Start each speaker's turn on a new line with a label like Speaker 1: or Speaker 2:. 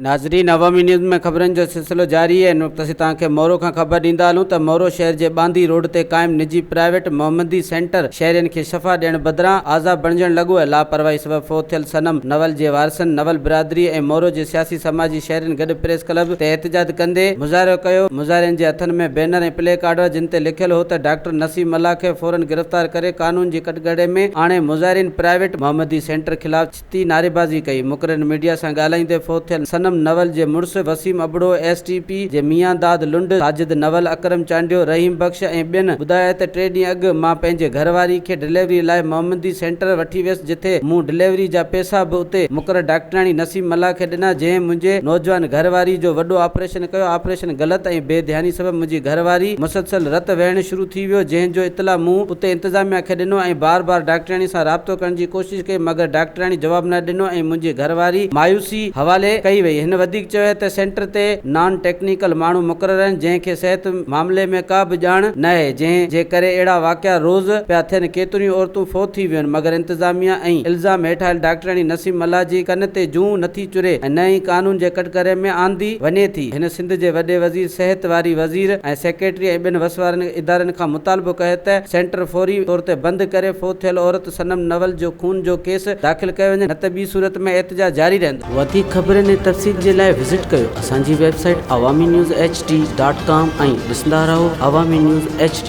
Speaker 1: ناظرين عوامي نيوز ۾ خبرن جو سلسلو جاري آهي ان وقت اسين توهان کي مورو کان خبر ڏيندا هلون ته مورو شهر جي ٻانڌي روڊ تي قائم نجي پرائيويٽ محمدي سينٽر شهرين کي شفا ڏيڻ بدران آزا بڻجڻ لڳو آهي لاپرواهي سبب فوت ٿيل صنم نول جي وارثن نول برادري ۽ مورو جي سياسي سماجي شهرين گڏ پريس ڪلب تي احتجاج ڪندي مظاهرو ڪيو مظاهرين جي هٿن ۾ بينر ۽ پلي ڪارڊ هئا جن تي لکيل هو ته ڊاڪٽر نسيم ملاح کي فورن گرفتار ڪري قانون جي ڪٽگهڙي ۾ آڻي مظاهرين پرائيويٽ محمدي سينٽر خلاف ڇتي نعريبازي ڪئي مقررين ميڊيا سان ڳالهائيندي فوت ٿيل صنم نول جي مڙس Waseem Abro S T P جي ميان داد لنڊ ساجد نول اڪرم چانڊيو رحيم بخش ۽ ٻين ٻڌايائين ته ٽي ڏينهن اڳ مان پنهنجي گهر واري کي ڊليوري لاء محمدي سينٽر وٺي ويس جتي مون ڊليوري جا پيسا به اتي مقرر ڊاڪٽرياڻي نسيم ملاح کي ڏنا جنهن منهنجي نوجوان گهر واري جو وڏو آپريشن آپريشن ڪيو، آپريشن غلط ۽ بي ڌياني سبب منهنجي گهر واري مسلسل رت وهڻ شروع ٿي ويو جنهن جو اطلاع مون اتي انتظاميا کي ڏنو ۽ بار بار ڊاڪٽرياڻي سان رابطو ڪرڻ جي ڪوشش ڪئي مگر ڊاڪٽرياڻي جواب نه ڏنو ۽ منهنجي گهر واري مايوسي حوالي ڪئي وئي هن وڌيڪ چيو هي ته سينٽر تي نان ٽيڪنيڪل ماڻهو مقرر آهن جنهن کي صحت معاملي ۾ ڪا به ڄاڻ ناهي جنهن جي ڪري اهڙا واقعا روز پيا ٿين ڪيتريون عورتون فوت ٿي ويون مگر انتظاميا ۽ الزام هيٺ آيل ڊاڪٽرياڻي نسيم ملاح جي ڪن تي جون نٿي چري ۽ نه ئي قانون جي ڪٽگري ۾ آندي وڃي ٿي. هن سنڌ جي وڏي وزير، صحت واري وزير ۽ سيڪريٽري ۽ ٻين وس وارن ادارن کان مطالبو ڪيو ته سينٽر فوري طور تي بند ڪري فوت ٿيل عورت صنم نول جو خون جو ڪيس داخل ڪيو وڃي نه ته ٻي صورت ۾ احتجاج جاري رهندو. وڌيڪ خبرن ۽ تفصيل جي لاء وزٽ ڪيو اسان جي website Awami news H D dot com ۽ ڏسندا رهو عوامي نيوز ايڇ ڊي.